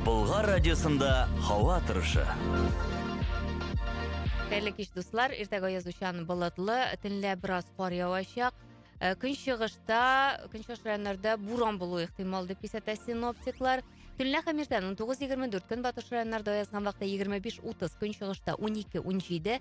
Болгар радиосында һава торышы. Хәерле кич, дуслар. Иртәгә язучан болытлы, төнлә бераз кар явачак. Э, көнчыгышта, көнчыгыш районнарда буран булу ихтимал дип кисәтә синоптиклар. Төнлә һәм иртән 19-24 көнбатыш районнарда язган вакытта 25-30 көнчыгышта 12-17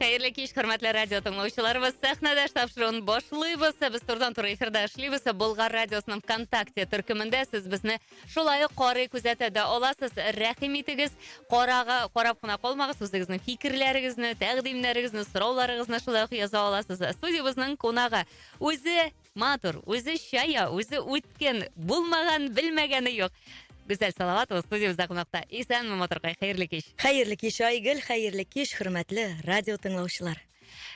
Хәерле кич, хөрмәтле радио тыңлаучыларыбыз. Сәхнәдәш тапшыруын башлыйбыз. Без турдан туры эфирда эшлибез. Болгар радиосының ВКонтакте төркемендә сез безне шулай ук карый, күзәтә дә аласыз. Рәхим итегез, карага, карап кына калмагыз, үзегезнең фикерләрегезне, тәкъдимнәрегезне, сорауларыгызны шулай ук яза аласыз. Студиябезнең кунагы үзе Матур, үзе чая, үзе үткен, булмаган, белмәгәне юк. Гүзәл Салаватова студиябездә кунакта. Исәнме, матуркай, хәерле кич. Хәерле кич, Айгөл, хәерле кич, хөрмәтле радио тыңлаучылар.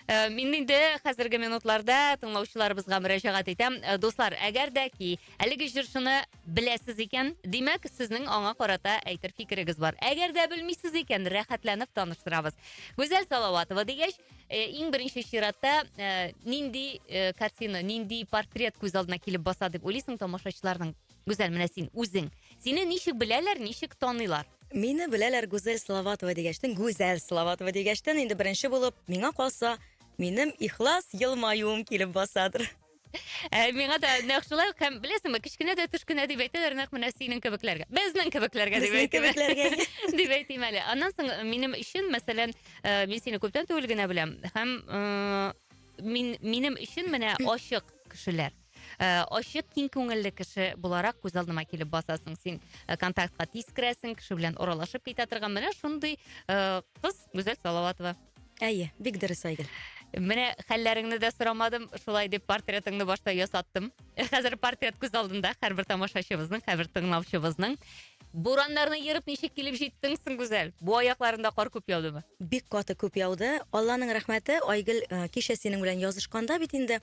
Э, мин инде хәзерге минутларда тыңлаучыларыбызга мөрәҗәгать итәм. Э, дуслар, әгәр дә ки, әлеге җырчыны беләсез икән, димәк, сезнең аңа карата әйтер фикерегез бар. Әгәр дә белмисез икән, рәхәтләнеп таныштырабыз. Гүзәл Салаватова дигәч, Э, иң беренче чиратта э, нинди э, картина нинди портрет күз алдына килеп баса дип уйлыйсың тамашачыларның гүзәл менә син үзең сине ничек беләләр ничек таныйлар мине беләләр гүзәл салаватова дигәчтен гүзәл салаватова дигәчтен инде беренче булып миңа калса минем ихлас елмаюым килеп басадыр Ә, миңа да нәкъ шулай ук һәм беләсеңме, кечкенә дә төшкенә дип әйтәләр, нәкъ менә синең кебекләргә. Безнең кебекләргә дип Безнең әйтим. кебекләргә. дип әйтим әле. Аннан соң э, минем өчен, мәсәлән, э, мин сине күптән түгел генә беләм һәм э, мин минем өчен менә ачык кешеләр. Э, Ачык, киң күңелле кеше буларак күз алдыма килеп басасың. Син э, контактка тиз керәсең, кеше белән аралашып китә торган менә шундый э, кыз Гүзәл Салаватова. Әйе, бик дөрес, Айгөл. Менә хәлләреңне дә сорамадым, шулай дип портретыңны башта ясаттым. Хәзер портрет күз алдында һәрбер тамашачыбызның, һәрбер тыңлаучыбызның. Бураннарны ерып ничек килеп җиттең соң, Гүзәл? Бу аякларында кар күп яудымы? Бик каты күп яуды. Алланың рәхмәте, Айгөл э, кичә синең белән язышканда бит инде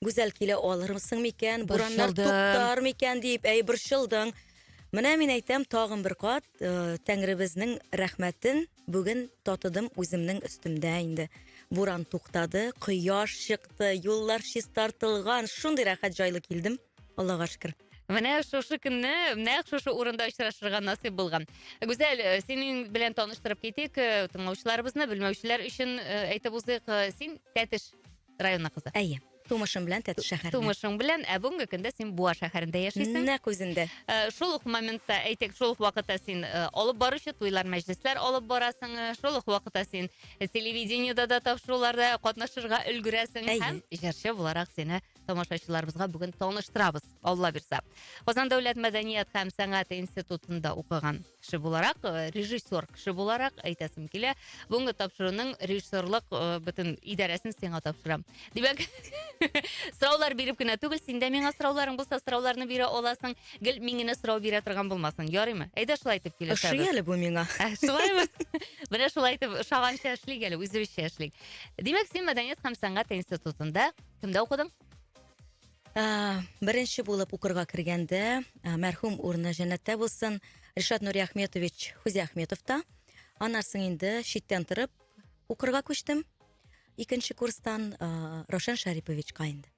Гүзәл килә алырмысың микән, бураннар Борчылдым. туктар микән дип, әй борчылдың. Менә мин әйтәм, тагын бер кат э, Тәңребезнең рәхмәтен Бүген татыдым үземнең өстемдә инде. Буран туктады, кояш чыкты, юллар чистартылган, шундый рәхәт җайлы килдем. Аллага шөкер. Менә шушы көнне нәкъ шушы урында очрашырга насыйп булган. Гүзәл, э, синең белән таныштырып китик э, тыңлаучыларыбызны, белмәүчеләр өчен э, әйтеп узыйк. Син Тәтеш районы кызы. Әйе. Тумышым белән Тәтеш шәһәреннән. Тумышың белән, ә бүгенге көндә син Буа шәһәрендә яшисең. Нәкъ үзендә. Э, шул ук моментта, әйтик, шул ук вакытта син э, алып баручы туйлар, мәҗлесләр алып барасың, э, шул ук вакытта син телевидениедә дә тапшыруларда катнашырга өлгерәсең һәм җырчы буларак сине тамашачыларыбызга бүген таныштырабыз, Алла бирса. Казан дәүләт мәдәният һәм сәнгать институтында укыган. кеше буларак э, режиссер кеше буларак әйтәсем килә бүгінгі тапшыруның режиссерлык э, бөтен идарәсін сиңа тапшырам димәк сораулар биреп кенә түгел синдә миңа сорауларың булса сорауларны бирә аласың гел мин генә сорау бирә торган болмасын ярыймы әйдә шулай итеп килешәбез ошый әле бу миңа ә, шулаймы менә шулай итеп ошаганча эшлик әле үзебезчә эшлик димәк син мәдәният һәм сәнгать институтында кімде оқыдың Ә, беренче булып укырга кергәндә, ә, мәрхүм урыны җәннәттә булсын, Ришат Нуриахметович Хузиахметовта. Аннан соң инде читтән торып укырга күчтем. Икенче курстан ә, Рошен Шариповичка инде.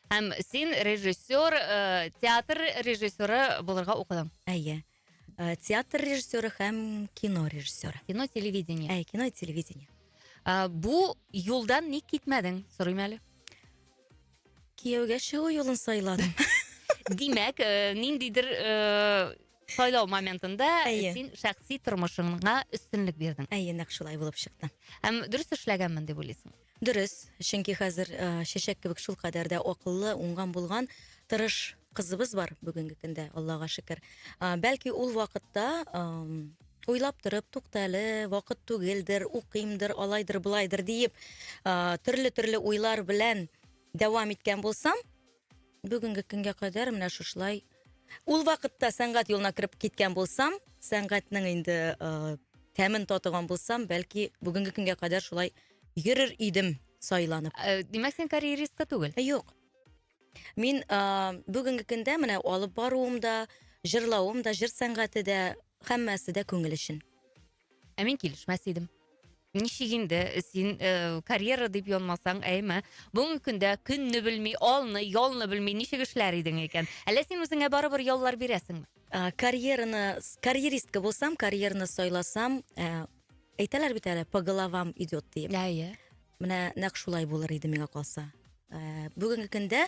Һәм син режиссер, э, театр режиссеры булырга укыдың. Әйе. Э, театр режиссеры һәм кино режиссеры кино телевидение ә кино телевидение ә, бу юлдан ник китмәдең сорыйм әле кияүгә чыгу юлын сайладым димәк э, ниндидер э, сайлау моментында әйе. син шәхси тормышыңа өстенлек бирдең әйе нәкъ шулай булып чыкты һәм дөрес эшләгәнмен дип уйлыйсың Дөрес, чөнки хәзер э, чәчәк кебек шулкадәр дә акыллы, уңган булган, тырыш кызыбыз бар бүгенге көндә, Аллага шөкер. Э, бәлки ул вакытта э, уйлап торып, тукта әле, вакыт түгелдер, укыймдыр, алайдыр, былайдыр диеп, э, төрле-төрле уйлар белән дәвам иткән булсам, Бүгенге көнгә кадәр менә шушылай. Ул вакытта сәнгать юлына кереп киткән булсам, сәнгатьнең инде э, тәмен татыган булсам, бәлки бүгенге көнгә кадәр шулай йөрер идем сайланып. Э, Димәк, син карьеристка түгел. Ә, Юк. Мин а, бүгенге көндә менә алып баруым да, җырлавым да, җыр сәнгате дә, һәммәсе дә күңел өчен. Ә мин килешмәс идем. Ничек инде син э, карьера дип янмасаң, әйме? Бүгенге көндә көнне белми, алны, ялны белми ничек эшләр идең икән? Әллә син үзеңә барыбер яллар бирәсеңме? Ә, карьераны с- карьеристка булсам карьераны сайласам ә, әйтәләр бит әле по головам идет диеп Әйе. менә нәкъ шулай булыр иде миңа калса Ә, бүгенге көндә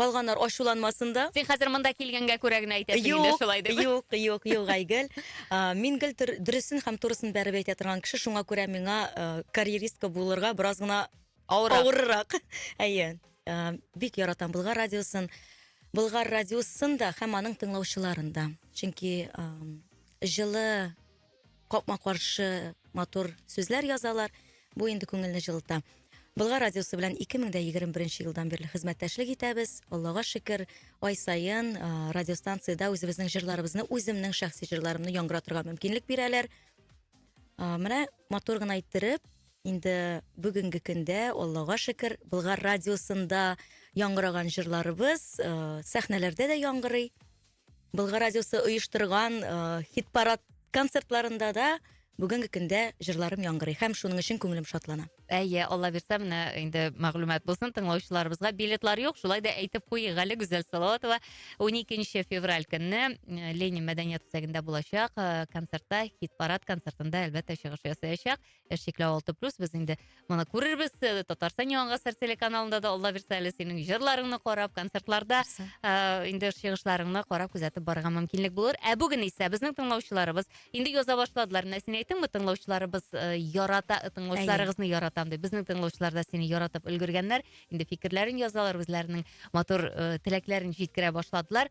Калганнар ачуланмасын да. Син хәзер монда килгәнгә күрә генә әйтәсең инде Юк, шулай дип. юк, юк, юк, Айгөл. А, Мин гел төр- дөресен һәм турысын бәреп әйтә торган кеше, шуңа күрә миңа э, карьеристка булырга бераз гына Авырак. авыррак. Әйе. Э, Бик яратам Болгар радиосын. Болгар радиосын да һәм аның тыңлаучыларын да. Чөнки эм, җылы капма каршы матур сүзләр язалар бу инде күңелне җылыта Болгар радиосы белән 2021 елдан бирле хезмәттәшлек итәбез. Аллага шөкер, ай саен радиостанциядә үзебезнең җырларыбызны, үземнең шәхси җырларымны яңгыратырга мөмкинлек бирәләр. Менә матур гына иттереп, инде бүгенге көндә, Аллага шөкер, Болгар радиосында яңгыраган җырларыбыз сәхнәләрдә дә яңгырый. Болгар радиосы оештырган э, хит-парад концертларында да бүгенге көндә җырларым яңгырый һәм шуның өчен күңелем шатлана. Әйе, Алла бирсә, менә инде мәгълүмат булсын тыңлаучыларыбызга. Билетлар юк, шулай да әйтеп куйыйк әле Гүзәл Салаватова 12 февраль көнне э, Ленин мәдәният үзәгендә булачак э, концертта, хит-парад концертында әлбәттә чыгыш ясаячак. чикләү алты плюс без инде моны күрербез ы татарстан яңа гасыр телеканалында да алла бирса әле синең жырларыңны карап концертларда ыыы инде чыгышларыңны карап күзәтеп барырга мөмкинлек булыр ә бүген исә безнең тыңлаучыларыбыз инде яза башладылар менә син әйттең бит тыңлаучыларыбыз ы ярата тыңлаучыларыгызны яратам дип безнең тыңлаучылар да сине яратып өлгергәннәр инде фикерләрен язалар үзләренең матур ы теләкләрен җиткерә башладылар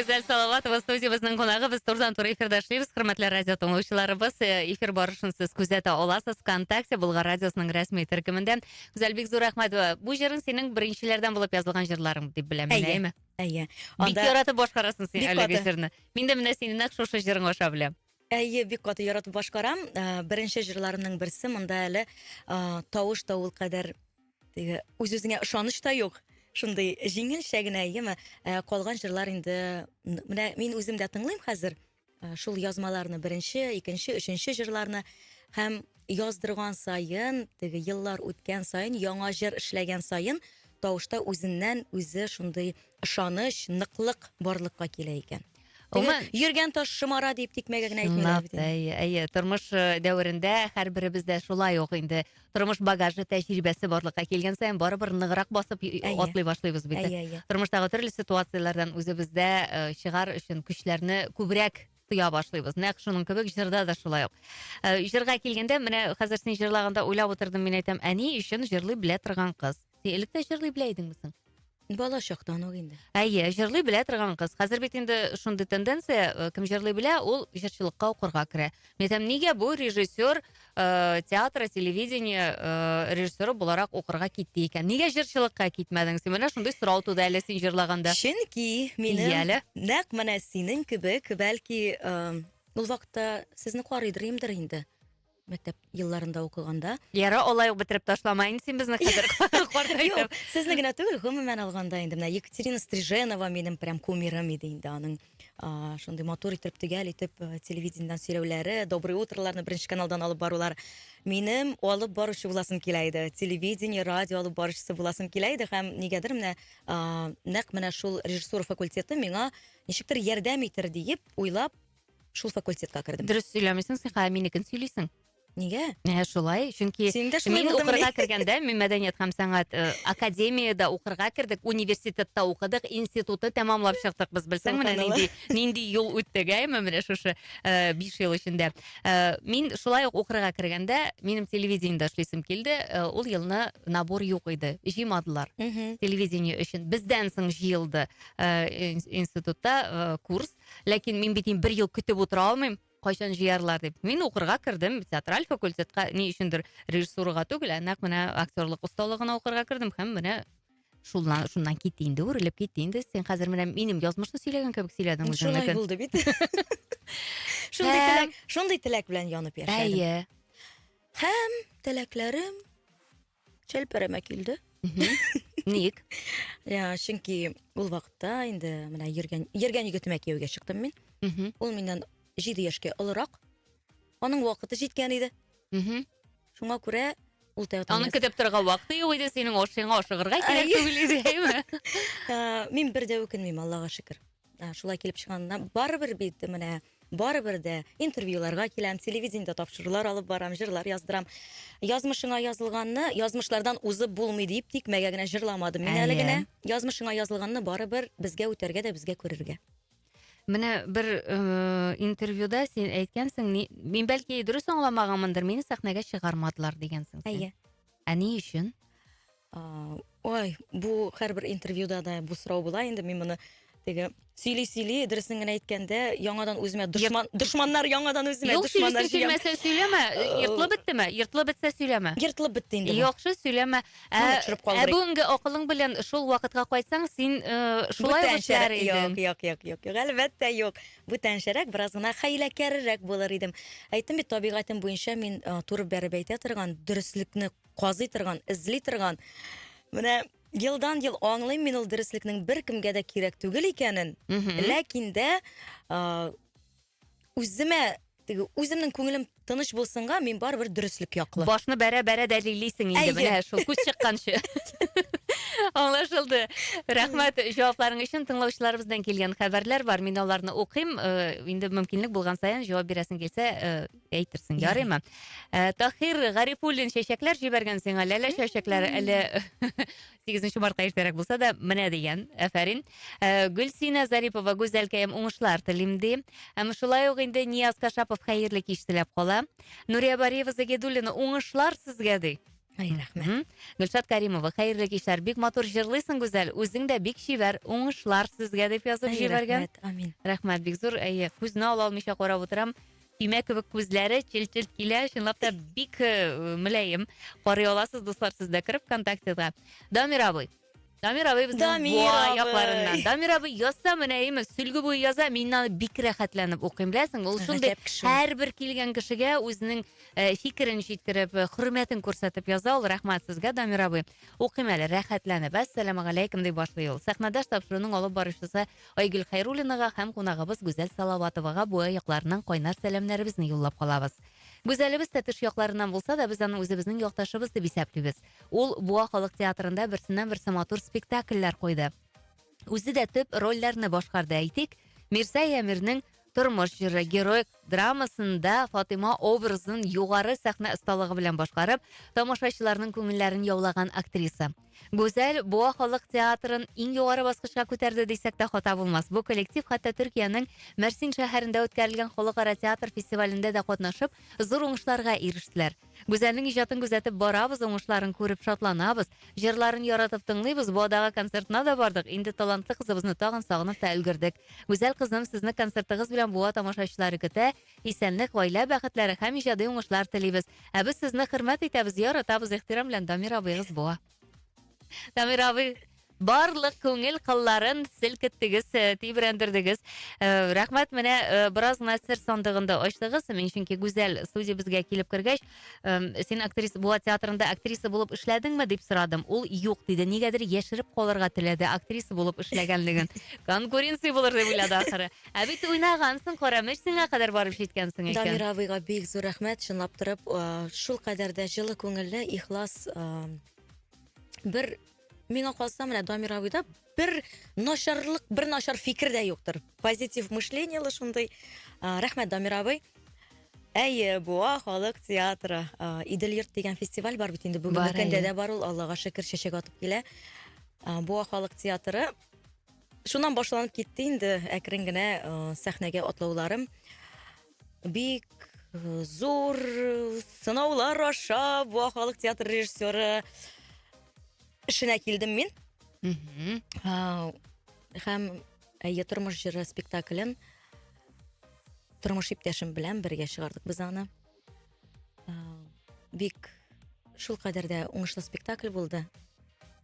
Гүзәл Салаватова студиябезнең кунагы. Без турдан туры эфирдә эшлибез. Хөрмәтле радио тыңлаучыларыбыз, э, эфир барышын сез күзәтә аласыз ВКонтакте Болгар радиосының рәсми төркемендә. Гүзәл, бик зур рәхмәт. Э, бу җырың синең беренчеләрдән булып язылган җырларың дип беләм, әйеме? Әйе. Бик яратып башкарасың син әлеге җырны. Мин дә менә синең нәкъ шушы җырың аша беләм. Әйе, бик каты яратып башкарам. Ә, Беренче җырларымның берсе, монда әле а, тавыш та ул кадәр теге үз-үзеңә ышаныч та юк. Шундый җиңелчә генә, әйеме? Ә, Калган җырлар инде м, менә мин үзем дә тыңлыйм хәзер. Ә, Шул язмаларны беренче, икенче, өченче җырларны һәм яздырган саен, теге еллар үткән саен, яңа җыр эшләгән саен тавышта үзеннән үзе шундый ышаныч, ныклык барлыкка килә икән. Гомумән, йөргән таш шомара дип тикмәгә генә әйтмиләр бит. Әйе, әйе, тормыш э, дәверендә һәрберебез дә шулай ук инде тормыш багажы, тәҗрибәсе барлыкка килгән саен барыбер ныграк басып и- Әйе. атлый башлыйбыз бит. Әйе, әйе. Тормыштагы төрле ситуацияләрдән үзебездә э, чыгар өчен көчләрне күбрәк тоя башлыйбыз. Нәкъ шуның кебек җырда да шулай ук. Э, Җырга килгәндә, менә хәзер син җырлаганда уйлап утырдым, мин әйтәм, әни өчен җырлый белә торган кыз. син элек тә җырлый белә идеңме соң бала чактан ук инде әйе җырлый белә торган кыз хәзер бит инде шундый тенденция э, кем җырлый белә ул җырчылыкка укырга керә мен айтам нигә бу режиссер ә, э, театра телевидение ә, э, режиссеры буларак укырга китте икән нигә җырчылыкка китмәдең син менә шундый сорау туды әле син җырлаганда чөнки минем Ияле. нәкъ менә синең кебек бәлки ә, ул вакытта сезне карыйдыр имдер инде Мәктәп елларында укыганда. Ярар, алай ук бетереп ташлама инде син безне хәзер картайтып. Сезне генә түгел, гомумән алганда инде менә Екатерина Стриженова минем прям кумирым иде инде аның шундый матур итеп төгәл итеп э, телевидениедән сөйләүләре, доброе утроларны беренче каналдан алып барулар. Минем алып баручы буласым килә иде. Телевидение, радио алып баручысы буласым килә иде һәм нигәдер менә нәкъ менә шул режиссура факультеты миңа ничектер ярдәм итер диеп уйлап Шул факультетка кердем. Дөрес сөйләмисең, сыйха әминекен сөйлисең. Нигә? Ә шулай, чөнки мин укырга кергәндә, мин мәдәният һәм сәнгать э, академиядә укырга кердек, университетта укыдык, институты тәмамлап чыктык без, белсәң, менә нинди, нинди юл үттек, әйме, э, менә шушы э, биш ел эчендә. Мин шулай ук укырга кергәндә, минем телевидениедә эшлисем килде, ул елны набор юк иде, җыймадылар. Телевидение өчен бездән соң җыелды институтта курс, ләкин мин бит инде бер ел көтеп утыра алмыйм кайчан жыярлар дип мин укырга кердем театраль факультетка ни өчендер режиссурага түгел ә нәкъ менә актерлык осталыгына укырга кердем һәм менә шуннан шуннан кит инде үрелеп кит инде сен хәзер менә минем язмышны сөйләгән кебек сөйләдең үзеңнекен шулай булды бит шундый теләк шундый теләк белән янып яшәдем әйе һәм теләкләрем Чәлпәрәмә килде. Ник? Я, чөнки ул вакытта инде менә йөргән йөргән егетемә кияүгә чыктым мин. Ул миннән 7 яшькә олырак. Аның вакыты җиткән иде. Шуңа күрә ул тәү Аны көтеп торырга вакыты юк иде, синең ашыңа ашыгырга кирәк түгел иде, әйме? Мин бер дә үкенмим, Аллага шөкер. ә, шулай килеп чыкканына барыбер бит менә барыбер дә интервьюларга киләм телевидениедә тапшырулар алып барам җырлар яздырам язмышыңа язылганны язмышлардан узып булмый дип тикмәгә генә җырламадым мин әле генә язмышыңа язылганны барыбер безгә үтәргә дә безгә күрергә менә бер э, интервьюда сен әйткәнсең мин бәлки дөрес аңламаганмындыр мине сәхнәгә чыгармадылар дигәнсең әйе ә ни өчен Ой, бу һәрбер интервьюда да бу сорау була инде, мин моны теге сөйли сөйли, дөресен генә әйткәндә, яңадан үземә дошман, дошманнар яңадан үземә Юк, дошманнар сөйлисең, җыям. сөйләмәсә сөйләмә. Йыртылып беттеме? Йыртылып бетсә сөйләмә. Ертылып бетте инде. бу. Яхшы, сөйләмә. Ә, Моны төшереп ә калдырыйк. бүгенге акылың белән шул вакытка кайтсаң, син э, шулай ук эшләр Бүтәнчәрәк. Юк, идең. юк, юк, юк, юк. Әлбәттә, юк. Бүтәнчәрәк, бераз гына хәйләкәрерәк булыр идем. Әйттем бит, табигатем буенча мин э, туры бәреп әйтә торган, дөреслекне казый торган, эзли торган. Менә елдан ел аңлыйм мин ул дөреслекнең беркемгә дә кирәк түгел икәнен. Ләкин дә үземә теге үземнең күңелем тыныч булсынга мин барыбер дөреслек яклы башны бәрә бәрә дәлиллисең инде менә шул күз чыкканчы аңлашылды рәхмәт җавапларың өчен тыңлаучыларыбыздан килгән хәбәрләр бар мин аларны укыйм э, инде мөмкинлек булган саен җавап бирәсең килсә э, әйтерсең, ярыймы? Э, Тахир Гарифуллин чәчәкләр җибәргән сиңа, ләлә чәчәкләре әле 8 мартка иртәрәк булса да, менә дигән, әфәрин. Э, Гөлсина Зарипова, Гүзәлкәем, уңышлар телим ди. Һәм шулай ук инде Нияз Кашапов хәерле кич теләп кала. Нурия Бариева Загидуллина, уңышлар сезгә ди. Ай, рәхмәт. Гөлшат Каримова, хәерле кичләр. Бик матур җырлыйсың, Гүзәл. Үзең дә бик чибәр. Уңышлар сезгә дип язып җибәргән. Рәхмәт, амин. Рәхмәт, бик зур. Әйе, күзне ала алмыйча карап утырам. Көймә кебек күзләре, челт-челт килә, чынлап та бик э, мөләем. Карый аласыз, дуслар, сез дә кереп ВКонтактега. Дамир абый. Дамир абый безнең Дамир Буа абый. якларыннан. Дамир абый язса мөләеме, сөлге буе яза, мин аны бик рәхәтләнеп укыйм, беләсең. Ул шундый Гаҗәп кеше. һәрбер килгән кешегә үзенең э, фикерен җиткереп, э, хөрмәтен күрсәтеп яза. Ул рәхмәт сезгә, Дамир абый. Укыйм әле, рәхәтләнеп. Әссәламәгаләйкем дип башлый ул. Сәхнәдәш тапшыруның алып баручысы Айгөл Хәйруллинага һәм кунагыбыз Гүзәл Салаватовага буа якларыннан кайнар сәламнәребезне юллап калабыз. Гүзәлебез дә тыш якларыннан булса да, без аны үзебезнең якташыбыз дип исәплибез. Ул Буа халык театрында берсеннән-берсе матур спектакльләр куйды. Үзе дә төп рольләрне башкарды, әйтик, Мирза Ямирнең Тормыш җыры героик драмасында Фатыйма образын югары сәхнә осталыгы белән башкарып, тамашачыларның күңелләрен яулаган актриса. Гүзәл Буа халык театрын иң югары баскычка күтәрде дисәк тә хата булмас. Бу коллектив хәтта Төркиянең Мәрсин шәһәрендә үткәрелгән халыкара театр фестивалендә дә катнашып, зур уңышларга ирештеләр. Гүзәлнең иҗатын күзәтеп барабыз, уңышларын күреп шатланабыз. Җырларын яратып тыңлыйбыз, Буадагы концертына да бардык, инде талантлы кызыбызны тагын сагынып та өлгердек. Гүзәл кызым, сезне концертыгыз белән Буа тамашачылары көтә, исәнлек, гаилә бәхетләре һәм иҗади уңышлар телибез. Ә без сезне хөрмәт итәбез, яратабыз, ихтирам белән Дамир абыегыз Буа. Дамир абый, барлык күңел кылларын селкеттегез, э, тибрәндердегез. Э, рәхмәт, менә э, бераз гына сер сандыгын да ачтыгыз. Мин чөнки Гүзәл студиябезгә килеп кергәч, э, син актриса була театрында актриса булып эшләдеңме дип сорадым. Ул юк диде. Нигәдер яшереп калырга теләде актриса булып эшләгәнлеген. Конкуренция булыр дип уйлады ахыры. Ә бит уйнагансың, Карамыш сиңа кадәр барып җиткәнсең икән. Дамир абыйга бик зур рәхмәт, чынлап торып, шул кадәр дә җылы күңелле, ихлас, бер миңа калса, менә Дамир абыйда бер начарлык, бер начар фикер дә юктыр. Позитив мышлениелы шундый. Рәхмәт, Дамир абый. Әйе, Буа халык театры. Идел йорт дигән фестиваль бар бит инде. Бүгенге көндә дә бар ул, Аллага шөкер, чәчәк атып килә. Буа халык театры. Шуннан башланып китте инде әкрен генә сәхнәгә атлауларым. Бик зур сынаулар аша бу халык театр режиссеры эшенә килдем мин. Һәм әйе тормыш җыры спектаклен тормыш иптәшем белән бергә чыгардык без аны. Бик шул кадәр дә уңышлы спектакль булды.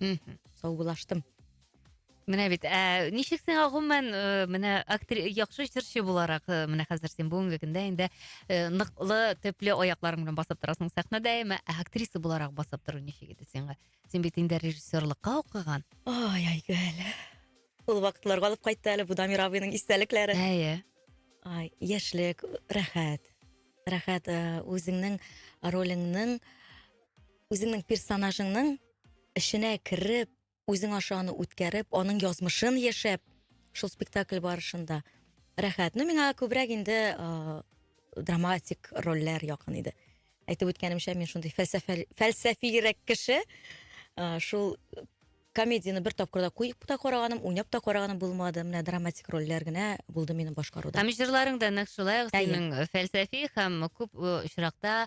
мхм саубуллаштым менә бит ә ничек сиңа гомумән ыыы менә яхшы җырчы буларак ы менә хәзер син бүгенге көндә инде ы ныклы төпле аякларың белән басып торасың сәхнәдә әмма ә актриса буларак басып тору ничек иде сиңа син бит инде режиссерлыкка укыган ай айгөл ул вакытлар алып кайтты әле бу дамир абыйның истәлекләре әйе ай яшьлек рәхәт рәхәт ы үзеңнең ролеңнең Үзеңнең персонажыңның эченә кереп, үзең аша аны үткәреп, аның язмышын яшәп, шул спектакль барышында рәхәт. Ну, миңа күбрәк инде э, драматик рольләр якын иде. Әйтеп үткәнемчә, мин шундый фәлсәфә фәлсәфирәк кеше. Э, шул комедияне бер тапкырда куеп та караганым, уйнап та караганым булмады. Менә драматик рольләр генә булды минем башкаруда. Һәм җырларың да нәкъ шулай ук Әйе. синең фәлсәфи һәм күп э, очракта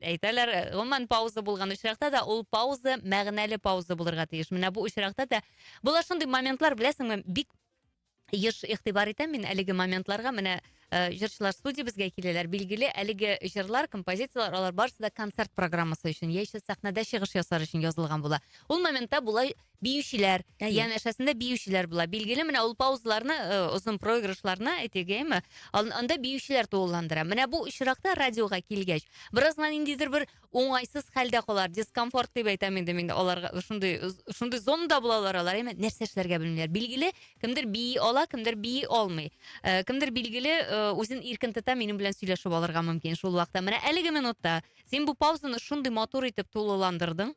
Әйтәләр, э, гомумән пауза булган очракта да ул пауза мәгънәле пауза булырга тиеш. Менә бу очракта да була шундый моментлар, беләсеңме, бик еш игътибар итәм мин әлеге моментларга. Менә э, җырчылар студиябезгә киләләр. Билгеле, әлеге җырлар, композицияләр, алар барысы да концерт программасы өчен яисә сәхнәдә чыгыш ясар өчен язылган була. Ул моментта була Биючеләр, Әйе. янәшәсендә биючеләр була. Билгеле, менә ул паузаларны, э, озын проигрышларны, әйтик, әйме, ан- анда биючеләр тулыландыра. Менә бу очракта радиога килгәч, бераз гына ниндидер бер уңайсыз хәлдә калалар, дискомфорт дип әйтәм инде мин аларга, шундый, шундый зонада булалар алар, әйме, нәрсә эшләргә белмиләр. Билгеле, кемдер бии ала, кемдер бии алмый. Э, кемдер, билгеле, э, үзен иркен тота, минем белән сөйләшеп алырга мөмкин шул вакытта. Менә әлеге минутта син бу паузаны шундый матур итеп тулыландырдың.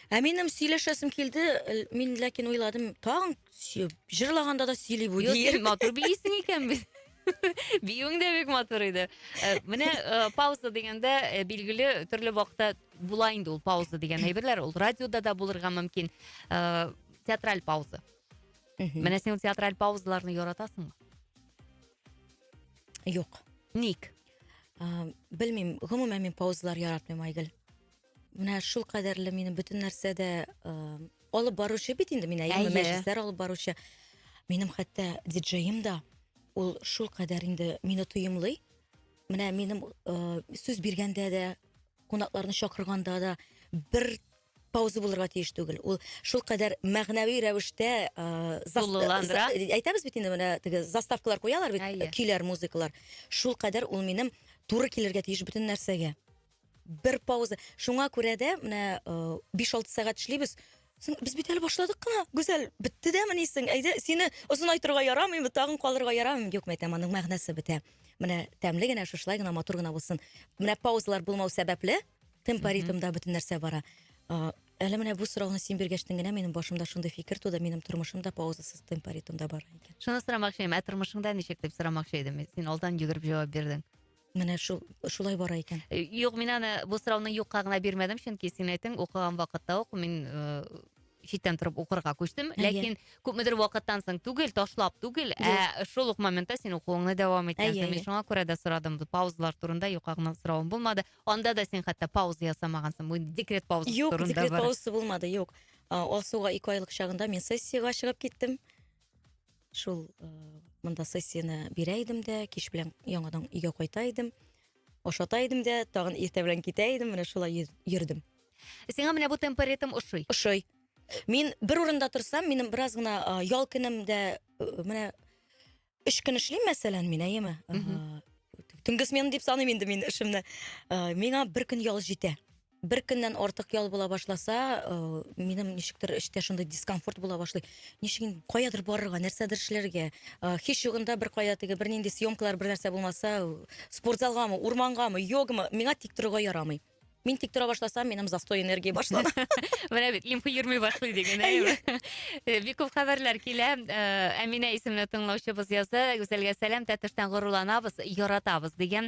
Ә минем сөйләшәсем килде, л- мин ләкин уйладым, тагын сөй- җырлаганда да сөйли бу Юк, диер. син матур биисең икән бит. Биюең дә бик матур иде. Э, Менә э, пауза дигәндә э, билгеле төрле вакытта була инде ул пауза дигән әйберләр. Ул радиода да булырга мөмкин. Э, Театраль пауза. Мгм. Менә син ул театраль паузаларны яратасыңмы? Юк. Ник? А, Белмим, гомумән мин паузалар яратмыйм, Айгөл. Менә шул кадәрле минем бөтен нәрсәдә э, алып баручы бит инде мин әйеме, Әйе. мәҗлесләр алып баручы. Минем хәтта диджеем да ул шул кадәр инде мине тоемлый. Менә минем э, сүз биргәндә дә, кунакларны чакырганда да бер пауза булырга тиеш түгел. Ул шул кадәр мәгънәви рәвештә э, зас- Тулыландыра. за- әйтәбез бит инде менә теге заставкалар куялар бит, Әйе. көйләр, музыкалар. Шул кадәр ул минем туры килергә тиеш бөтен нәрсәгә. Бер пауза. Шуңа күрә дә менә 5-6 сәгать эшлибез. Соң без бит әле башладык кына. Гүзәл, бетте дә мени соң. Әйдә, сине озынайтырга ярамыймы, тагын калырга ярамыймы? Юк, мәйтәм, аның мәгънәсе бетә. Менә тәмле генә, шушлай гына, матур гына булсын. Менә паузалар булмау сәбәпле, темпоритмда бөтен нәрсә бара. Әле менә бу сорауны син биргәчтен генә минем башымда шундый фикер туды, минем тормышым да паузасыз темпоритмда бара икән. Шуны сорамакчы идем, ә тормышың да ничек дип сорамакчы идем. Син алдан йөгереп җавап бирдең. Менә шул шулай бара икән. Э, юк, мин аны бу сорауны юкка гына бирмәдем, чөнки син әйтең, укыган вакытта ук мин э, читтән торып укырга күчтем. Ләкин күпмедер вакыттан соң түгел, ташлап түгел, ә шул ук моментта син укуыңны дәвам иткәнсең. Мин шуңа күрә дә сорадым. Паузалар турында юкка гына соравым булмады. Анда да син хәтта пауза ясамагансың. Бу декрет паузасы юк, турында. Юк, декрет паузасы булмады, юк. Алсуга ике айлык чагында мин сессиягә чыгып киттем. шул э, монда сессияне бирә идем дә кич белән яңадан өйгә кайта идем ашата идем дә тагын иртә белән китә идем менә шулай йөрдем сиңа менә бу темп ритм ошый ошый мин бер урында торсам минем бераз гына ял көнемдә э, менә өч көн эшлим мәсәлән мин әйеме төнге смена дип саныйм инде мин эшемне миңа бер көн ял җитә бер көннән артык ял була башласа, э, минем ничектер эчтә шундый дискомфорт була башлый. Ничек инде каядыр барырга, нәрсәдер эшләргә. Э, Һич югында бер кая теге бер нинди съемкалар бер нәрсә булмаса, э, спортзалгамы, урмангамы, йогамы, миңа тик торырга ярамый. Мин тик тора башласам, минем застой энергия башлана. Менә бит лимфа йөрми башлый диген, әйе. Э, Бик күп хәбәрләр килә. Э, Әминә исемле тыңлаучыбыз язды. Гүзәлгә сәлам, Тәтештән горурланабыз, яратабыз дигән.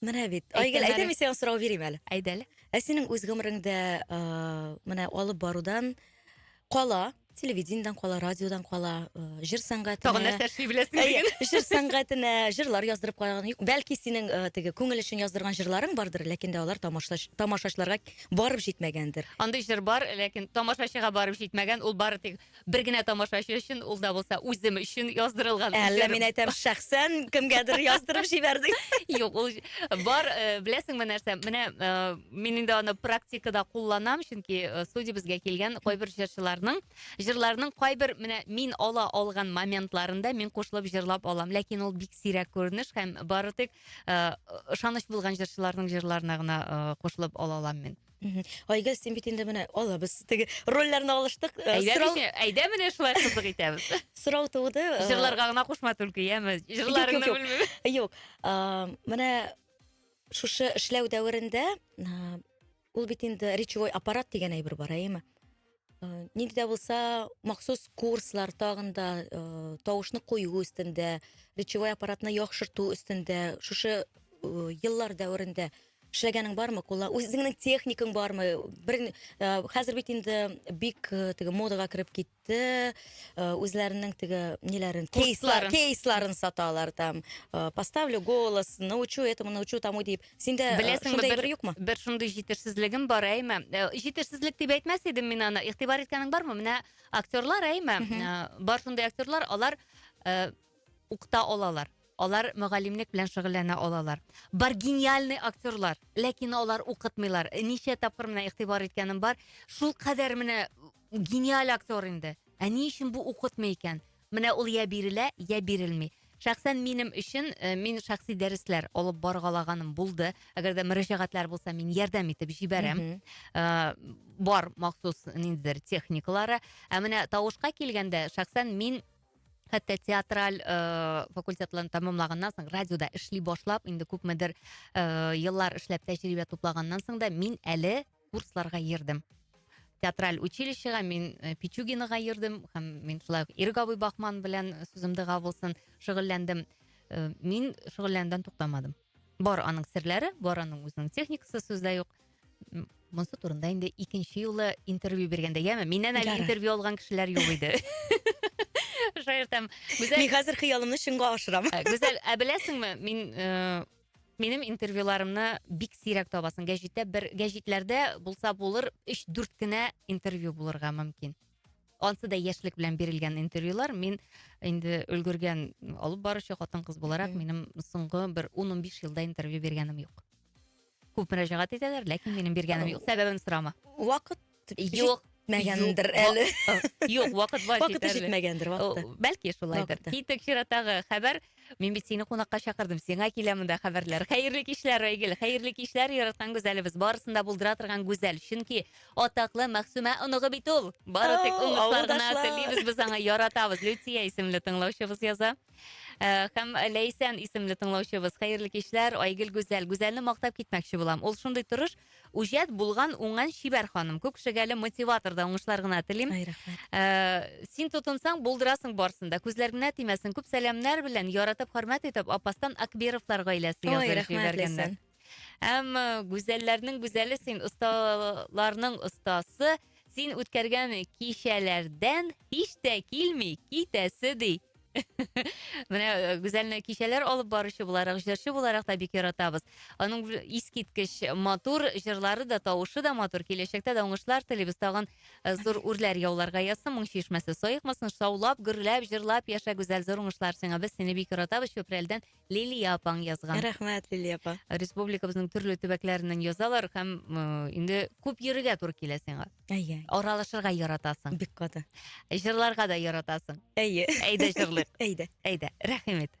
Менә бит. Айгел, әйдә мин сиңа сорау бирим әле. Әйдә әле. Ә синең үз гомереңдә менә алып барудан кала, телевидениедән кала, радиодан кала, җыр сәнгатенә. Тагын нәрсә эшли беләсең диген. Җыр сәнгатенә, җырлар яздырып караган. Бәлки синең теге күңел өчен яздырган җырларың бардыр, ләкин дә алар тамашачыларга барып җитмәгәндер. Андый җыр бар, ләкин тамашачыга барып җитмәгән, ул бары тик Бер генә тамашачы өчен, ул да булса үзем өчен яздырылган. Әллә мин әйтәм, шәхсән кемгәдер яздырып җибәрдең? Юк, ул бар, э, беләсеңме нәрсә? Менә э, мин инде аны практикада кулланам, чөнки э, студиябезгә килгән кайбер җырчыларның җырларының кайбер менә мин ала алган моментларында мин кушылып җырлап алам. Ләкин ул бик сирәк күренеш һәм бары тик э, ышаныч булган җырчыларның җырларына гына э, кушылып ала алам мин. Мгм. Айгөл, син бит инде менә алабыз. Теге рольләрне алыштык. Э, Әйдә, Сорау, мичә, әйдә менә шулай кызык итәбез. сорау туды. э, Җырларга гына кушма түлке, яме. Җырларыңны юк. белмим. Юк, а, менә шушы эшләү дәверендә а, ул бит инде речевой аппарат дигән әйбер бар, әйеме? Э, ник дә булса махсус курслар тагын да э, тавышны кую өстендә речевой аппаратны яхшырту өстендә шушы э, еллар дәверендә эшләгәнең бармы кулла үзеңнең техникаң бармы бер хәзер бит инде бик теге модага кереп китте үзләренең теге ниләрен кейслар кейсларын саталар там поставлю голос научу этому научу тому дип Синдә э, Беләсең, шундай бер, юкмы? Бер шундый җитешсезлегем бар, әйме. Э, җитешсезлек дип әйтмәс идем мин аны. Игътибар иткәнең бармы? Менә актерлар, әйме. Э, бар шундый актерлар, алар э, укта алалар. Алар мөгаллимлек белән шөгыльләнә алалар. Бар гениальный актерлар, ләкин алар укытмыйлар. Ничә тапкыр менә игътибар иткәнем бар. Шул кадәр менә гениаль актер инде. Ә ни өчен бу укытмый икән? Менә ул йә бирелә, йә бирелми. Шәхсән минем өчен, э, мин шәхси дәресләр алып баргалаганым булды. Әгәр дә мөрәҗәгатьләр булса, мин ярдәм итеп җибәрәм. Мгм. Э, бар махсус ниндидер техникалары. Ә менә тавышка килгәндә, шәхсән мин хәтта театраль э, факультетларын тәмамлаганнан соң, радиода эшли башлап, инде күпмедер э, еллар эшләп тәҗрибә туплаганнан соң да мин әле курсларга йөрдем театраль училищега мин э, пичугинаға йөрдем һәм мин шулай ук ирек абый бахман белән э, сүзем дыга булсын шөгыльләндем э, мин шөгыльләнүдән туктамадым бар аның серләре бар аның үзенең техникасы сүздә юк монысы турында инде икенче юлы интервью биргәндә яме миннән әле интервью алган кешеләр юк иде шаяртам гүзәл мин хәзер хыялымны чынга ашырам гүзәл ә беләсеңме мин Минем интервьюларымны бик сирәк табасың. Гәҗиттә бер гәҗитләрдә булса булыр 3-4 кенә интервью булырга мөмкин. Ансы да яшьлек белән бирелгән интервьюлар. Мин инде өлгергән алып баручы хатын-кыз буларак, минем соңгы бер 10-15 елда интервью биргәнем юк. Күп мөрәҗәгать итәләр, ләкин минем биргәнем юк. Сәбәбен сорама. Вакыт Юк, җитмәгәндер әле. Юк, вакыт бар Вакыты җитмәгәндер вакыты. Бәлки шулайдыр. Китик чиратагы хәбәр. Мин бит сине кунакка чакырдым. Сиңа килә монда хәбәрләр. Хәерле кичләр, Айгөл. Хәерле кичләр, яраткан гүзәлебез. Барысын да булдыра торган гүзәл. Чөнки атаклы Мәхсүмә оныгы бит ул. Бары тик оныклар гына телибез без аңа, яратабыз. Люция исемле тыңлаучыбыз яза. Э, һәм Ләйсән исемле тыңлаучыбыз. Хәерле кичләр, Айгөл гүзәл. Гүзәлне мактап китмәкче булам. Ул шундый тырыш, Үҗәт булган уңган чибәр ханым. Күк шәгәле мотиваторда уңышлар гына телим. Ай, рәхмәт. Э, син тотынсаң, булдырасың барсын да. Күзләр генә тимәсен. Күп сәламнәр белән, яратып, хөрмәт итеп, Апастан Акбировлар гаиләсе язып җибәргәннәр. Әм гүзәлләрнең гүзәле син, осталарның остасы, Син үткәргән кичәләрдән һич тә килми китәсе ди. Менә э, Гүзәлне кичәләр алып баручы буларак, җырчы буларак та бик яратабыз. Аның искиткеч матур җырлары да, тавышы да матур. Киләчәктә дә уңышлар телибез. Тагын э, зур үрләр яуларга язсын, моң чишмәсе саекмасын. Шаулап, гөрләп, җырлап яшә, Гүзәл, зур уңышлар сиңа. Без сине бик яратабыз. Чүпрәлдән Лилия апаң язган. Рәхмәт, Лилия апа. Республикабызның төрле төбәкләреннән язалар һәм э, инде күп йөрергә туры килә сиңа. Әйе. Аралашырга яратасың. Бик каты. Җырларга да яратасың. Әйе. Әйдә җырлыйк. Әйдә. Әйдә. Рәхим ит.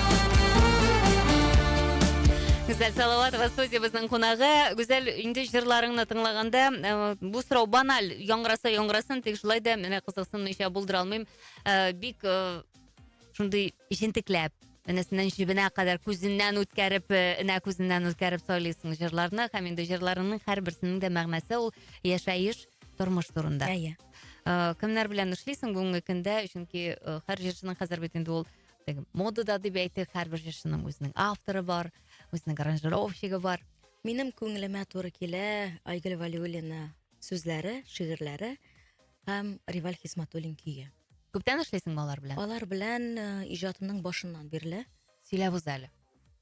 Гүзәл Салаватова студиябезнең кунагы. Гүзәл, инде җырларыңны тыңлаганда, э, бу сорау баналь, яңгыраса яңгырасын, тик шулай да менә кызыксынмыйча булдыра алмыйм. Э, бик э, шундый җентекләп, энесеннән җебенә кадәр күзеннән үткәреп, энә күзеннән үткәреп сайлыйсың җырларны һәм инде җырларыңның һәрберсенең дә мәгънәсе ул яшәеш, тормыш турында. Әйе. Кемнәр белән эшлисең бүгенге көндә? Чөнки һәр җырчының хәзер бит инде ул теге модада дип әйтик һәрбер җырчының үзенең авторы бар үзенең аранжировщигы бар минем күңелемә туры килә айгөл вәлиуллина сүзләре шигырьләре һәм реваль хисматуллин көе күптән эшлисеңме алар белән алар белән э, иҗатымның башыннан бирле сөйләп үз әле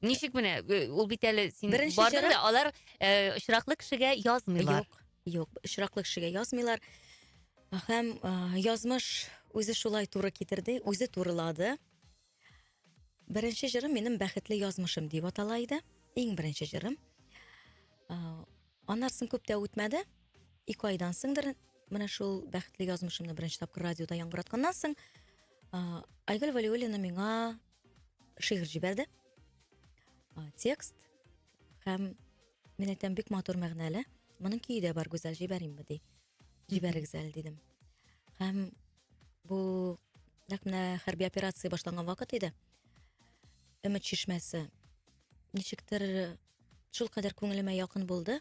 Ничек менә э, ул бит әле син Беренче бардың чират- да алар э, очраклы кешегә язмыйлар. Юк, юк, очраклы кешегә язмыйлар. Һәм э, язмыш үзе шулай туры китерде, үзе турылады. Беренче җырым минем бәхетле язмышым дип атала иде. Иң беренче җырым. Э, Аннан соң күп тә үтмәде. Ике айдан соңдыр менә шул бәхетле язмышымны беренче тапкыр радиода яңгыратканнан соң э, Айгөл Валиуллина миңа шигырь җибәрде. Текст һәм мин әйтәм бик матур мәгънәле. Моның көе дә бар, Гүзәл, җибәримме ди. Җибәрегез әле дидем. Һәм бу нәкъ менә хәрби операция башланган вакыт иде. Өмет чишмәсе. Ничектер Шулкадәр күңелемә якын булды.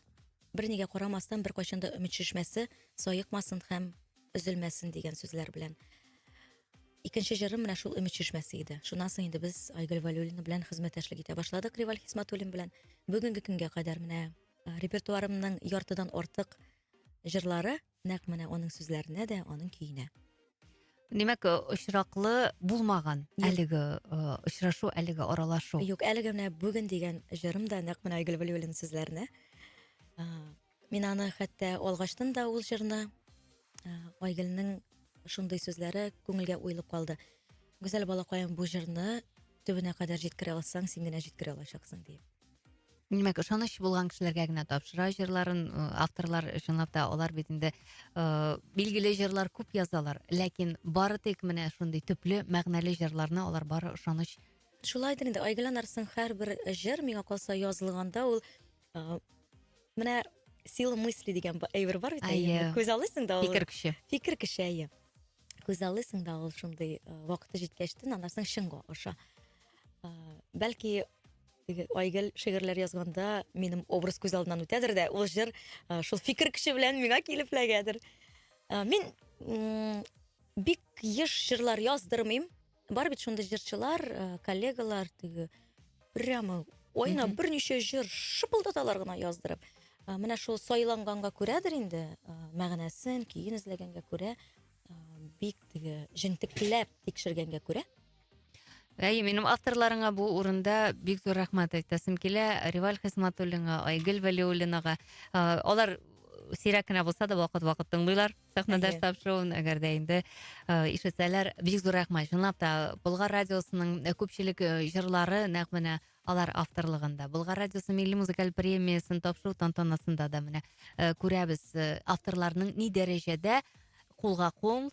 Бернигә карамастан, беркайчан да өмет шешмәсе саекмасын һәм өзелмәсен дигән сүзләр белән. Икенче җырым менә шул өмет шешмәсе иде. Шуннан соң инде без Айгөл Валюлина белән хезмәттәшлек итә башладык Риваль Хисматуллин белән. Бүгенге көнгә кадәр менә репертуарымның яртыдан артык җырлары Нәкъ менә аның сүзләренә дә, аның көенә. Димәк, э, очраклы булмаган әлеге э, очрашу, әлеге аралашу. Юк, әлеге менә бүген дигән җырым да нәкъ менә Айгөл Вәлиуллина сүзләренә. Э, мин аны хәтта алгаштын да ул җырны. Айгөлнең шундый сүзләре күңелгә уелып калды. Гүзәл балакаем, бу җырны төбенә кадәр җиткерә алсаң, син генә җиткерә алачаксың диеп. димәк ышаныч булган кешеләргә генә тапшыра җырларын ы авторлар чынлап та алар бит инде ыыы билгеле җырлар күп язалар ләкин бары тик менә шундый төпле мәгънәле җырларны алар бары ышаныч шулайдыр инде айгөл анарсың һәрбер җыр миңа калса язылганда ул ы менә сила мысли дигән әйбер бар бит әйе күз алыйсың да ул фикер көче фикер көче әйе күз алыйсың да ул шундый вакыты җиткәчтен анарсың чынга аша ыыы бәлки Айгөл шигырьләр язганда минем образ күз алдыннан үтәдер дә, ул җыр э, шул фикер көче белән миңа килеп эләгәдер. Э, Мин м, бик еш җырлар яздырмыйм. Бар бит шундый җырчылар, э, коллегалар теге прямо айына Мгм. берничә җыр шыпылдаталар гына яздырып. Э, Менә шул сайланганга күрәдер инде, э, мәгънәсен, көен эзләгәнгә күрә, э, бик теге җентекләп тикшергәнгә күрә. Әй, минем авторларыңа бу урында бик зур рәхмәт әйтәсем килә. Реваль Хисматуллинга, Айгөл Вәлиуллинага. Э, алар сирәк кенә булса да вакыт-вакыт тыңлыйлар сәхнәдәш тап шоуын, әгәр дә инде э, ишетсәләр, бик зур рәхмәт. Чынлап та, Болгар радиосының э, күпчелек э, җырлары нәкъ менә алар авторлыгында. Болгар радиосы милли музыкаль премиясен тапшыру тантанасында да менә күрәбез авторларның ни дәрәҗәдә кулга кул,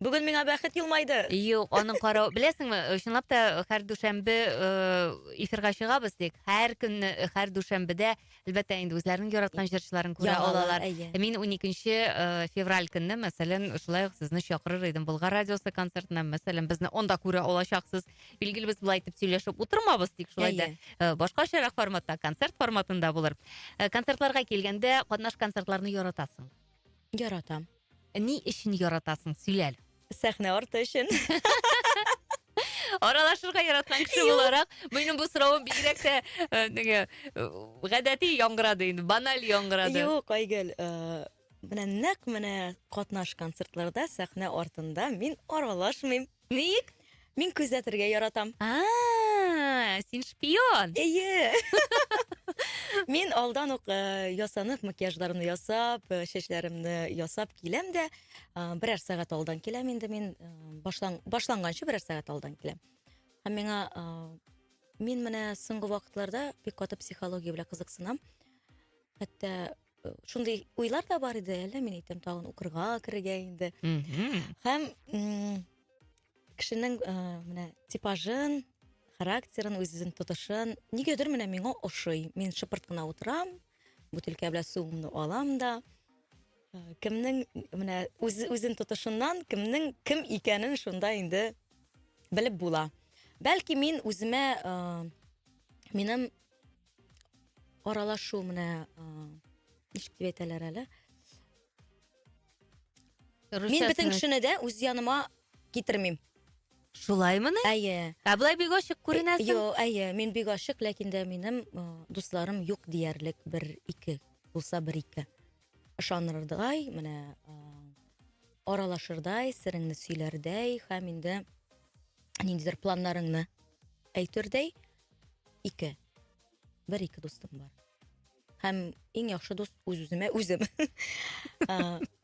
Бүген миңа бәхет елмайды. Юк, аның каравы. Беләсеңме, чынлап та һәр дүшәмбе э, эфирга чыгабыз тик. Һәр көнне, э, һәр дүшәмбедә, әлбәттә, инде үзләренең яраткан җырчыларын күрә Яңалар, алалар. әйе. Мин 12 э, февраль көнне, мәсәлән, шулай ук сезне чакырыр идем Болгар радиосы концертына, мәсәлән, безне онда күрә алачаксыз. Билгеле, без болай итеп сөйләшеп утырмабыз, тик шулай да Әйе. э, башкачарак форматта, концерт форматында булыр. Э, Концертларга килгәндә, катнаш концертларны яратасың. Яратам. Ни өчен яратасың, сөйлә әле. Сәхнә арты өчен. Аралашырга яраткан кеше буларак, минем бу соравым бигрәк тә э, теге э, гадәти яңгырады инде, баналь яңгырады. Юк, Айгөл, э, менә нәкъ менә катнаш концертларда сәхнә артында мин аралашмыйм. Ник? Мин күзәтергә яратам. А, син шпион. Әйе. Мин алдан ук э, ясанып, макияжларымны ясап, э, чәчләремне ясап киләм дә, э, берәр сәгать алдан киләм инде мин, э, башлан, башланганчы берәр сәгать алдан киләм. Һәм миңа э, мин менә соңгы вакытларда бик каты психология белән кызыксынам. Хәтта шундый уйлар да бар иде әллә мин әйтәм тагын укырга керергә инде һәм кешенең э, менә типажын характерын үзен тотышын нигәдер менә миңа ошый мин шыпырт кына утырам бутылка белән суымны алам да э, кемнең менә үз, үзен тотышыннан кемнең кем икәнен шунда инде белеп була бәлки мин үземә ә, э, минем аралашу менә ничек дип әйтәләр әле мин бөтен кешене дә үз яныма китермим шулаймыни әйе ә былай бик ачык күренәсең юк әйе мин бик ачык ләкин дә минем дусларым юк диярлек бер ике булса бер ике ышанырдай менә аралашырдай сырыңны сөйләрдәй һәм инде ниндидер планнарыңны әйтердәй Ике. Бер ике дустым бар. Һәм иң яхшы дус үз-үземә үзем.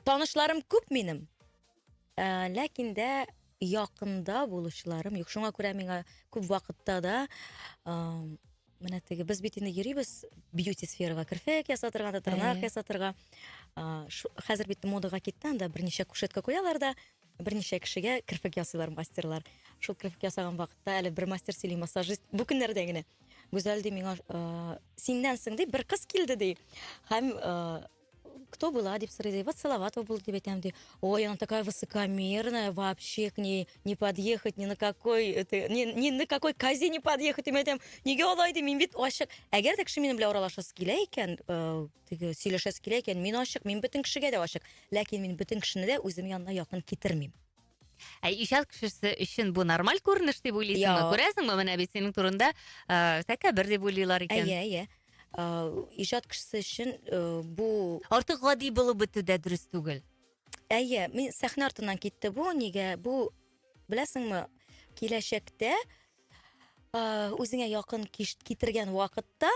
Танышларым күп минем. Ләкин дә якында булучыларым юк. Шуңа күрә миңа күп вакытта да менә теге без бит инде йөрибез бьюти сферага керфек ясатырга да тырнак ясатырга хәзер бит модаға китте анда берничә кушетка куялар да Берничә кешегә керфек ясыйлар мастерлар. Шул керфек ясаган вакытта әле бер мастер сөйли, массажист бу көннәрдә генә. Гүзәл ди миңа, э, синнән соң ди бер кыз килде ди. Һәм э, кто была дип сорый ди. Вот Салаватова булды дип әйтәм ди. Ой, она такая высокомерная, вообще к ней не подъехать, ни на какой это, ни, ни на какой козе не подъехать дип әйтәм. Нигә алай ди? Мин бит ачык. Әгәр дә кеше минем белән аралашасы килә икән, э, Теге, сөйләшәсе килә икән, мин ачык, мин бөтен кешегә дә ачык. Ләкин мин бөтен кешене дә үзем янына якын китермим. Ә иҗат кешесе өчен бу нормаль күренеш дип уйлыйсыңмы? Күрәсеңме, менә бит синең турында э, тәкәбер дип уйлыйлар икән. Әйе, әйе. Э, иҗат кешесе өчен э, бу артык гади булып бетү дә дөрес түгел. Әйе, мин сәхнә артыннан китте бу. Нигә? Бу беләсеңме, киләчәктә үзеңә якын китергән вакытта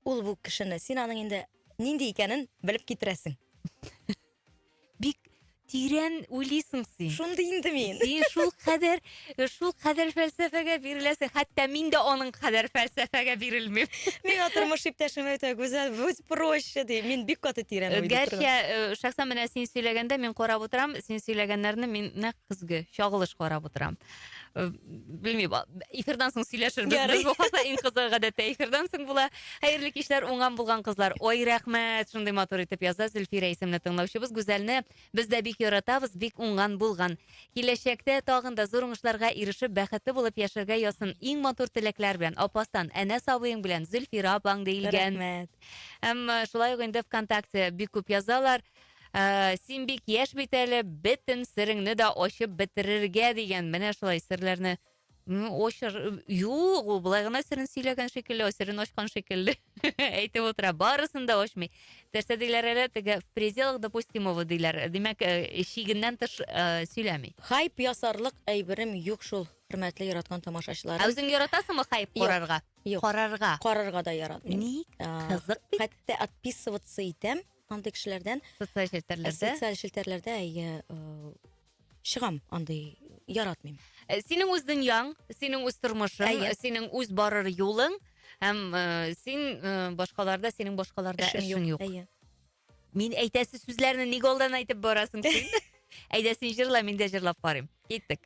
Ул бу кешене, син аның инде нинди икәнен белеп китерәсең. Бик тирән уйлыйсың син. Шундый инде мин. Син шул кадәр, шул кадәр фәлсәфәгә биреләсең. Хәтта мин дә аның кадәр фәлсәфәгә бирелмим. Миңа тормыш иптәшем әйтә, Гүзәл, будь проще, ди. Мин бик каты тирән уйлый торган. Гәрчә, э, шәхсән менә син сөйләгәндә мин карап утырам, син сөйләгәннәрне мин нәкъ көзге чагылыш карап утырам. Э, белмим эфирдан соң сөйләшербез Ярый. без бу хакта иң кызыгы гадәттә эфирдан соң була хәерле кичләр уңган булган кызлар ой рәхмәт шундый матур итеп яза зөлфирә исемле тыңлаучыбыз гүзәлне без дә бик яратабыз бик уңган булган киләчәктә тагын да зур уңышларга ирешеп бәхетле булып яшәргә язсын иң матур теләкләр белән апастан әнә сабыең белән зөлфирә апаң диелгән рәхмәт әмма шулай ук инде вконтакте бик күп язалар Ә, син бик яшь бит әле, бөтен сереңне дә ачып бетерергә дигән. Менә шулай серләрне очыр... Юк, ул былай гына серен сөйләгән шикелле, серен ачкан шикелле. Әйтеп утыра, барысын да ачмый. Терсә диләр әле, теге в пределах допустимого диләр. Димәк, шигеннән тыш сөйләми. Хайп ясарлык әйберем юк шул, хөрмәтле яраткан тамашачыларым. Ә үзең яратасыңмы хайп карарга? Юк. Карарга. Карарга да яратмыйм. Ник? Кызык бит. Хәтта отписываться итәм. андый кешеләрдән социаль челтәрләрдә социаль челтәрләрдә әйе чыгам андый яратмыйм э, синең үз дөньяң синең үз тормышың әйе. синең үз барыр юлың һәм э, син э, башкаларда синең башкаларда эшең юк әйе мин әйтәсе сүзләрне ник алдан әйтеп барасың син әйдә син җырла мин дә җырлап карыйм киттек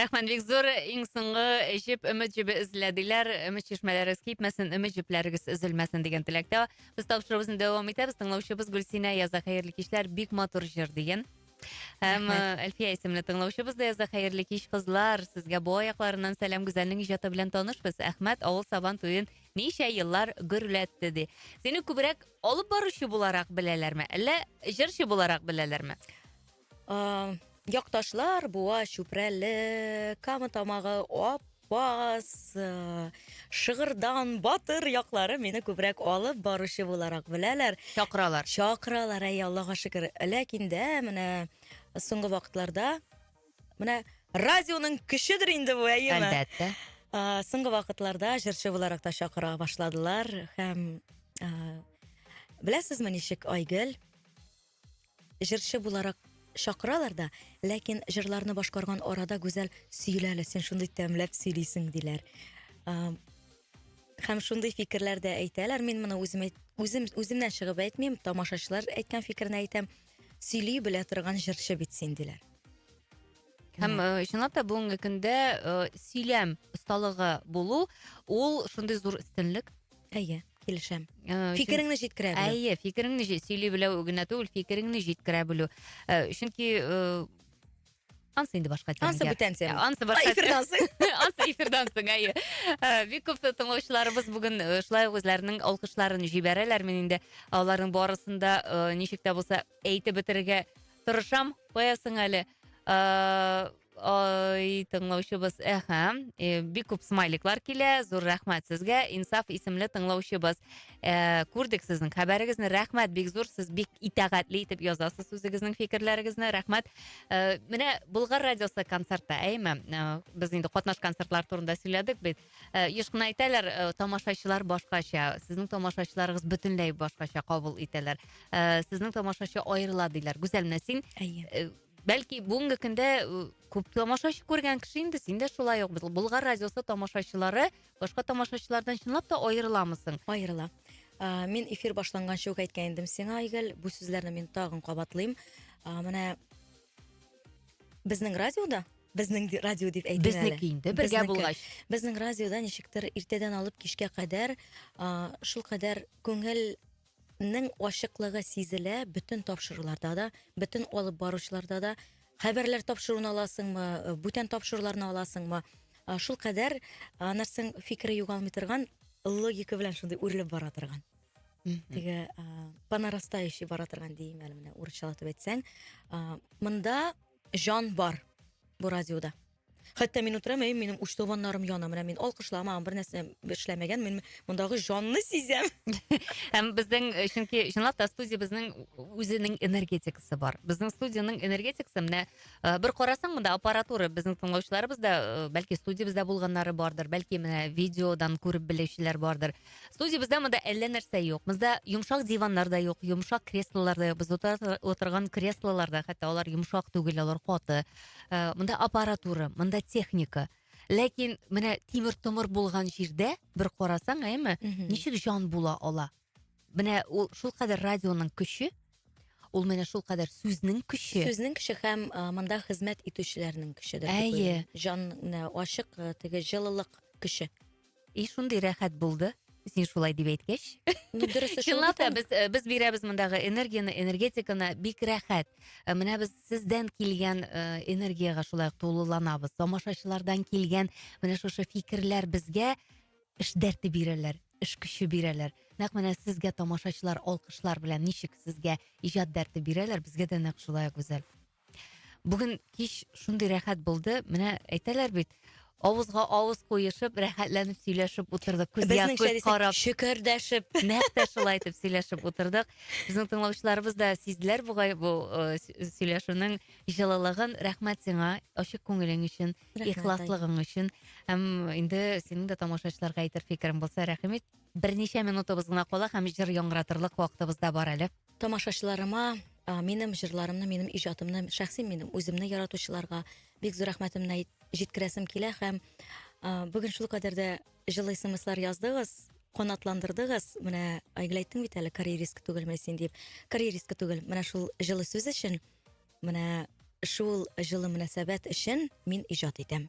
Рәхмәт бик зур. Иң соңгы җеп өмет җебе эзләделәр. Өмет чишмәләрегез кипмәсен, өмет җепләрегез өзелмәсен дигән теләктә. Без тапшыруыбызны дәвам итәбез. Тыңлаучыбыз Гөлсинә яза хәерле кичләр, бик матур җыр дигән. Һәм Әлфия исемле тыңлаучыбыз да яза, хәерле кич, кызлар, сезгә бу аякларыннан сәлам, Гүзәлнең иҗаты белән танышбыз, Әхмәт авыл сабан туен ничә еллар гөрләтте, ди. Сине күбрәк алып баручы буларак беләләрме, әллә җырчы буларак беләләрме? Якташлар, Буа, Чүпрәле, Кама Тамагы, Ап Бас, э, Шыгырдан, Батыр яклары мине күбрәк алып баручы буларак беләләр. Чакыралар. Чакыралар, әй, Аллага шөкер. Ләкин дә менә соңгы вакытларда менә радионың көчедер инде бу, әйеме? Әлбәттә. А, Соңгы вакытларда җырчы буларак та чакыра башладылар һәм а, беләсезме ничек Айгөл? Җырчы буларак чакыралар да, ләкин җырларны башкарган арада Гүзәл, сөйлә әле, син шундый тәмләп сөйлисең, диләр. Һәм шундый фикерләр дә әйтәләр. Мин моны үзем үзем үземнән чыгып әйтмим, тамашачылар әйткән фикерне әйтәм. Сөйли белә торган җырчы бит син, диләр. Һәм э, чынлап та бүгенге көндә э, сөйләм осталыгы булу ул шундый зур өстенлек. Әйе, килешәм. Э, Фикереңне җиткерә белү. Әйе, фикереңне җи- сөйли белү генә түгел, фикереңне җиткерә белү. Э, Чөнки э, ансы инде башка тема. Ансы бүтән тема. Ә, Ансы башка. Эфирдан соң. Ансы эфирдан соң, әйе. Э, Бик күп тыңлаучыларыбыз бүген э, шулай ук үзләренең алкышларын җибәрәләр. Мин инде аларның барысын да э, ничек тә булса Әйтеп бетерергә тырышам, куясың әле. Э, ой, тыңлаучыбыз, әһә, э, бик күп смайликлар килә, зур рәхмәт сезгә, Инсаф исемле тыңлаучыбыз. Э, күрдек сезнең хәбәрегезне, рәхмәт, бик зур, сез бик итәгатьле итеп язасыз үзегезнең фикерләрегезне, рәхмәт. Э, менә Болгар радиосы концертта, әйме, э, без инде катнаш концертлар турында сөйләдек бит. Э, еш кына әйтәләр э, тамашачылар башкача сезнең тамашачыларыгыз бөтенләй башкача кабул итәләр э, сезнең тамашачы аерыла диләр гүзәл менә син әйе бәлки бүгенге көндә күп тамашачы күргән кеше инде син дә шулай ук болгар радиосы тамашачылары башка тамашачылардан чынлап та аерыламысың аерыла ә, мин эфир башланганчы ук әйткән идем сиңа айгөл бу сүзләрне мин тагын кабатлыйм ә, менә безнең радиода Безнең ди- радио дип әйтим әле. Безнеке инде, бергә Безнеке. булгач. Безнең радиода ничектер иртәдән алып кичкә кадәр а, шул кадәр күңелнең ачыклыгы сизелә бөтен тапшыруларда да, бөтен алып баручыларда да. Хәбәрләр тапшыруын аласыңмы, бүтән тапшыруларны аласыңмы, а, шул кадәр а, нәрсәң фикере югалмый торган, логика белән шундый үрелеп бара торган. Теге а, по нарастающей бара торган дим әле менә урысчалатып әйтсәң. А, Монда Җан бар бу радиода. Хәтта мин утырам, әй, минем уч табаннарым яна, менә мин алкышламаган, бер нәрсә эшләмәгән, мин мондагы җанны сизәм. Һәм безнең, э, чөнки чынлап та студиябезнең үзенең энергетикасы бар. Безнең студиянең энергетикасы менә э, бер карасаң, монда аппаратура безнең тыңлаучыларыбыз да, э, бәлки студиябездә булганнары бардыр, бәлки менә видеодан күреп белүчеләр бардыр. Студиябездә монда әллә нәрсә юк. Монда йомшак диваннар да юк, йомшак креслолар да юк. Без утырган креслолар да хәтта алар йомшак түгел, алар каты. Э, монда аппаратура, монда техника. Ләкин менә тимер томыр булган җирдә бер карасаң, әйме, ничек җан була ала? Менә ул шул кадәр радионың көче, ул менә шул кадәр сүзнең көче. Сүзнең көче һәм э, монда хезмәт итүчеләрнең көче дә. Әйе. Җан ачык э, теге җылылык көче. И шундый рәхәт булды син шулай дип әйткәч чынлап та без э, без бирәбез мондагы энергияны энергетиканы бик рәхәт э, менә без сездән килгән э, энергияга шулай ук тулыланабыз тамашачылардан килгән менә шушы фикерләр безгә эш дәрте бирәләр эш көче бирәләр нәкъ менә сезгә тамашачылар алкышлар белән ничек сезгә иҗат дәрте бирәләр безгә дә нәкъ шулай гүзәл Бүген кич шундый рәхәт булды. Менә әйтәләр бит, авызга авыз куешып, рәхәтләнеп сөйләшеп утырдык. Күз Безнең ясыз шәрисә карап, шөкердәшеп. нәкъ тә шулай итеп сөйләшеп утырдык. Безнең тыңлаучыларыбыз да сизделәр бугай бу э, сө- сөйләшүнең җылылыгын. Рәхмәт сиңа, ачык күңелең өчен, Рәхмәт, ихласлыгың өчен. Һәм инде синең дә тамашачыларга әйтер фикерең булса, рәхим ит. Берничә минутыбыз гына кала һәм җыр яңгыратырлык вакытыбыз да бар әле. тамашачыларыма минем жырларымны минем иҗатымны шәхси минем үземне яратучыларга бик зур рәхмәтемне җиткерәсем килә һәм бүген шул кадәр дә җылы смслар яздыгыз канатландырдыгыз менә айгөл әйттең бит әле карьеристка түгелме син дип карьеристка түгел менә шул җылы сүз өчен менә шул җылы мөнәсәбәт өчен мин иҗат итәм